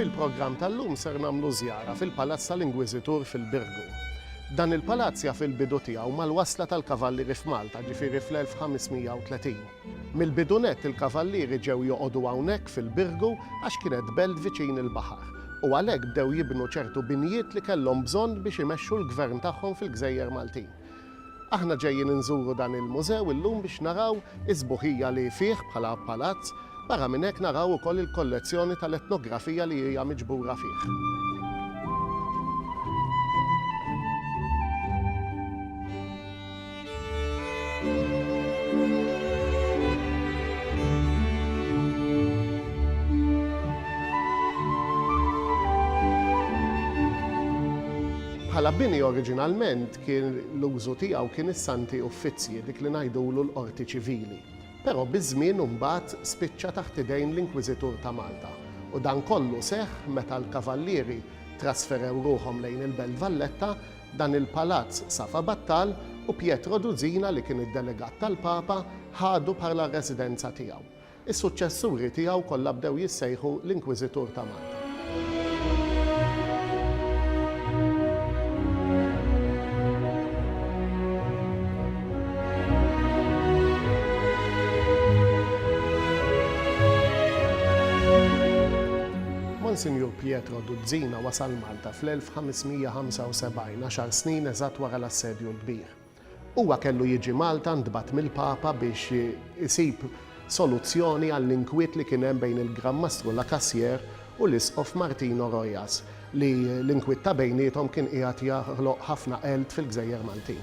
Fil-programm tal-lum ser nagħmlu żjara fil-Palazz tal-Ingwiżitur fil-Birgu. Dan il-palazz jaf il-bidu tiegħu mal-wasla tal-kavallieri f'Malta, ġifieri fl-1530. Mill-bidu nett il-kavallieri ġew joqogħdu hawnhekk fil-Birgu għax kienet belt viċin il-baħar u għalhekk bdew jibnu ċertu binjiet li kellhom bżonn biex imexxu l-gvern tagħhom fil-gżejjer Maltin. Aħna ġejjin inżuru dan il-mużew illum biex naraw is-sbuħija li fih bħala palazz, barra minn hekk naraw ukoll il-kollezzjoni tal-etnografija li hija miġbura fih. Bħala bini oriġinalment kien l-użu tiegħu kien is-Santi Uffizzji, dik li ngħidulu l-Qorti Ċivili. Però biż-żmien u mbagħad spiċċa taħt idejn l-Inkwiżitur ta' Malta u dan kollu seħħ meta l-Kavallieri trasferew ruħhom lejn il-Belt Valletta Dan il-palazz safa battal u Pietro Duzina li kien id-delegat tal-Papa ħadu bħala r-residenza tiegħu. Is-suċċessuri tiegħu kollha bdew jissejħu l-Inkwiżitur ta' Malta. Monsinjur Pietro Duzina wasal Malta. ta' fl-1575, għaxar snin eżatt wara l-Assedju l-Kbir. Huwa kellu jiġi Malta ntbagħat mill-Papa biex isib soluzzjoni għall-inkwiet li kien hemm bejn il-Gran Mastru La Cassière u l-Isqof Martino Rojas li l-inkwiet ta' bejniethom kien qiegħed jaħloq ħafna qeld fil-gżejjer Maltin.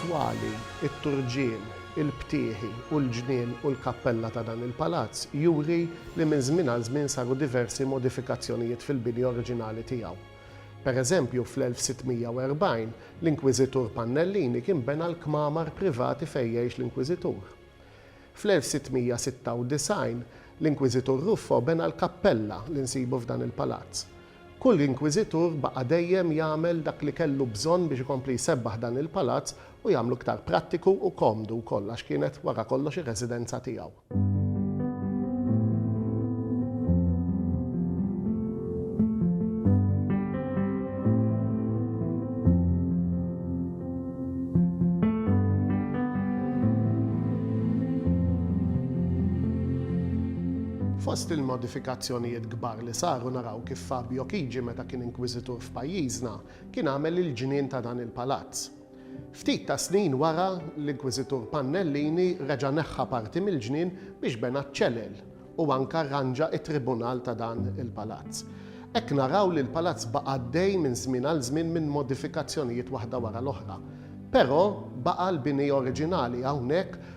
Twali, it-turġien, il-btieħi u l-ġnien u l-kappella ta' dan il-palazz juri li minn żmien għal żmien saru diversi modifikazzjonijiet fil-bini oriġinali tiegħu. Pereżempju, fl-1640, l-Inkwiżitur Pannellini kien bena l-kmamar privati fejn jgħix l-Inkwiżitur. Fl-1696, l-Inkwiżitur Ruffo bena l-kappella li nsibu f'dan il-palazz. Kull inkwiżitur baqa' dejjem jagħmel dak li kellu bżonn biex ikompli jsebbaħ dan il-palazz u jagħmlu iktar prattiku u komdu wkoll għax kienet wara kollox ir-residenza tiegħu. Fost il-modifikazzjonijiet kbar li saru naraw kif Fabio Chigi meta kien Inkwiżitur f'pajjiżna kien għamel il-ġnien ta' dan il-palazz. Ftit ta' snin wara, l-Inkwiżitur Pannellini reġa' neħħa parti mill-ġnien biex bena ċ-ċelel u anke arranġa t-tribunal ta' dan il-palazz. Hekk naraw li l-palazz baqa' għaddej minn żmien għal żmien minn modifikazzjonijiet waħda wara l-oħra. Però baqa' l-bini oriġinali hawnhekk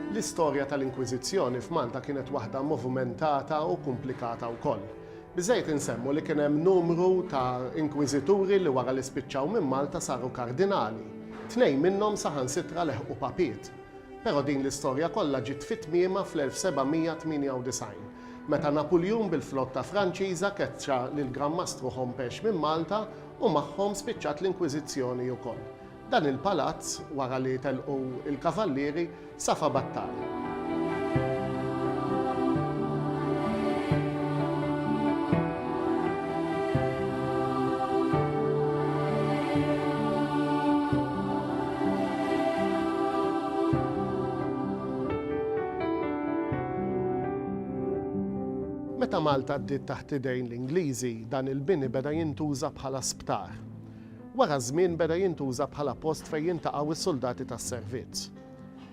L-istorja tal-Inkwiżizzjoni f'Malta kienet waħda movumentata u kumplikata wkoll. Biżżejjed insemmu li kien hemm numru ta' Inkwiżituri li wara li spiċċaw minn Malta saru Kardinali. Tnejn minnhom saħansitra leħqu Papiet. Però din l-istorja kollha ġiet fi tmiemha fl-1798, meta Napuljun bil-flotta Franċiża keċċa lill-Gran Mastru Hompesch minn Malta u magħhom spiċċat l-Inkwiżizzjoni wkoll. Dan il-palazz, wara li telqu l-Kavallieri, safa battali. Meta Malta għaddiet taħt idejn l-Ingliżi, dan il-bini beda jintuża bħala sptar. Wara ż-żmien beda jintuża bħala post fejn jiltaqgħu s-suldati tas-servizz.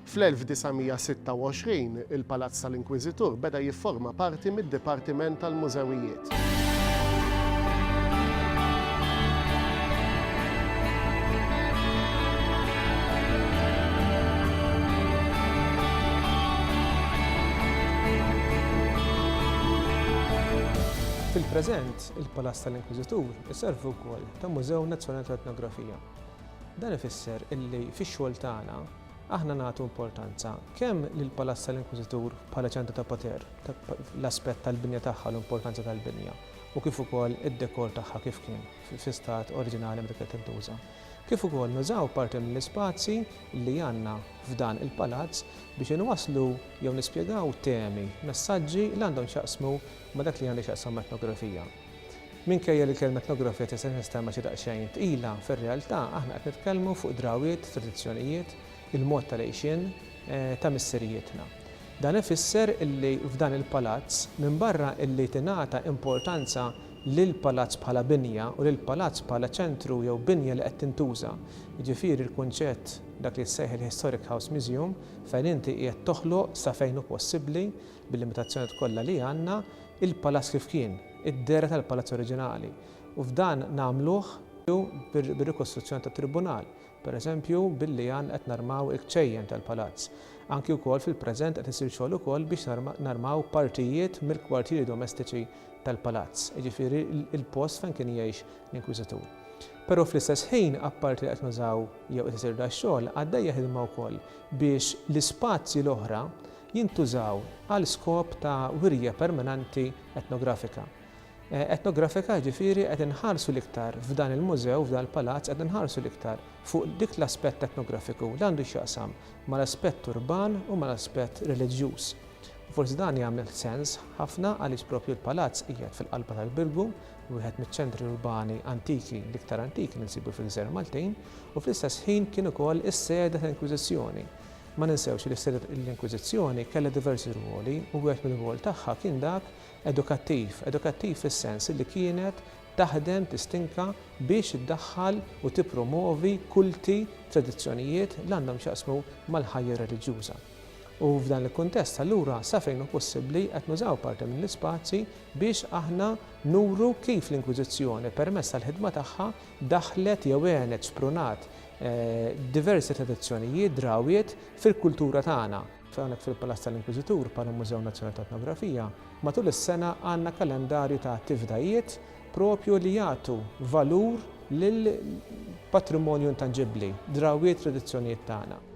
Fl-1926, il-Palazz tal-Inkwiżitur beda jifforma parti mid-Dipartiment tal-Mużewijiet. Fil-preżent, il-Palazz tal-Inkwiżitur iservi wkoll ta' Mużew Nazzjonali tal-Etnografija. Dan ifisser illi fix-xogħol tagħna aħna nagħtu importanza kemm lill-Palazz tal-Inkwiżitur bħala ċentru ta' poter, l-aspett tal-binja tagħha, l-importanza tal-binja, u kif ukoll id-dekor tagħha kif kien fi stat oriġinali meta kienet tintuża, kif ukoll nużaw parti mill-ispazji li għandna f'dan il-palazz biex inwasslu jew nispjegaw temi, messaġġi li għandhom x'jaqsmu ma' dak li għandu x'jaqsam ma' etnografija. Minkejja li l-kelma etnografija tista' tinstema' xi daqsxejn tqila, fir-realtà aħna qed nitkellmu fuq drawwiet, tradizzjonijiet, il-mod ta' l-għixien ta' missirijietna. Dan ifisser illi f'dan il-palazz, minbarra illi tingħata importanza lill-palazz bħala binja u lill-palazz bħala ċentru jew binja li qed tintuża, jiġifieri l-kunċett dak li jissejħel Historic House Museum, fejn inti qiegħed toħloq sa fejn hu possibbli, Bil-limitazzjonijiet kollha li għandna, il-palazz kif kien, id-dehra tal-palazz oriġinali, u f'dan nagħmluh bir-rikostruzzjoni tat-Tribunal, pereżempju billi għan qed narmaw il-kċejjen tal-palazz. Anki wkoll fil-preżent qed isir xogħol ukoll biex narmaw partijiet mill-kwartieri domestiċi tal-palazz, jiġifieri l-post fejn kien jgħix l-Inkwiżitur. Però fl-istess ħin, apparti li qed nużaw jew qed isir dax-xogħol, għaddejja ħidma wkoll biex l-ispazji l-oħra jintużaw għal skop ta' wirja permanenti etnografika. Etnografika jiġifieri qed inħarsu l-iktar f'dan il-mużew, f'dan il-palazz qed inħarsu l-iktar fuq dik l-aspett etnografiku li għandu x'jaqsam mal-aspett urban u mal-aspett reliġjuż. Forsi dan jagħmel sens ħafna għaliex proprju l-palazz qiegħed fil-qalba tal-Birgu, wieħed miċ-ċentri urbani antiki, l-iktar antiki li nsibu fil-Gżejjer Maltin, u fl-istess ħin kien ukoll is-sede tal-Inkwiżizzjoni. Ma ninsewx li s-Sede tal-Inkwiżizzjoni kellha diversi rwoli u wieħed mir-rwol tagħha kien dak edukattiv, edukattiv fis-sens li kienet taħdem tistinka biex iddaħħal u tippromwovi kulti, tradizzjonijiet li għandhom x'jaqsmu mal-ħajja reliġjuża. U f'dan il-kuntest allura sa fejn hu possibbli qed nużaw parti mill-ispazji biex aħna nuru kif l-Inkwiżizzjoni permezz tal-ħidma tagħha daħħlet jew għenet, xprunat, diversi tradizzjonijiet, drawwiet, fil-kultura tagħna. Hawnhekk fil-Palazz tal-Inkwiżitur, bħala Mużew Nazzjonali ta' Etnografija, matul is-sena għandna kalendarju ta' attivdajiet propju li jagħtu valur lill-patrimonju intanġibbli, drawwiet, tradizzjonijiet tagħna.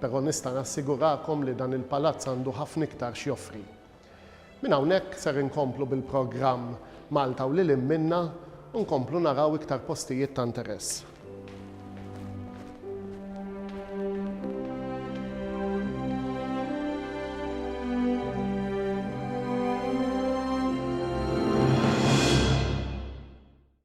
Però nista' nassigurakom li dan il-palazz għandu ħafna iktar x'joffri. Minn hawnhekk ser inkomplu bil-programm Malta u lil hinn minnha u nkomplu naraw iktar postijiet ta' interess.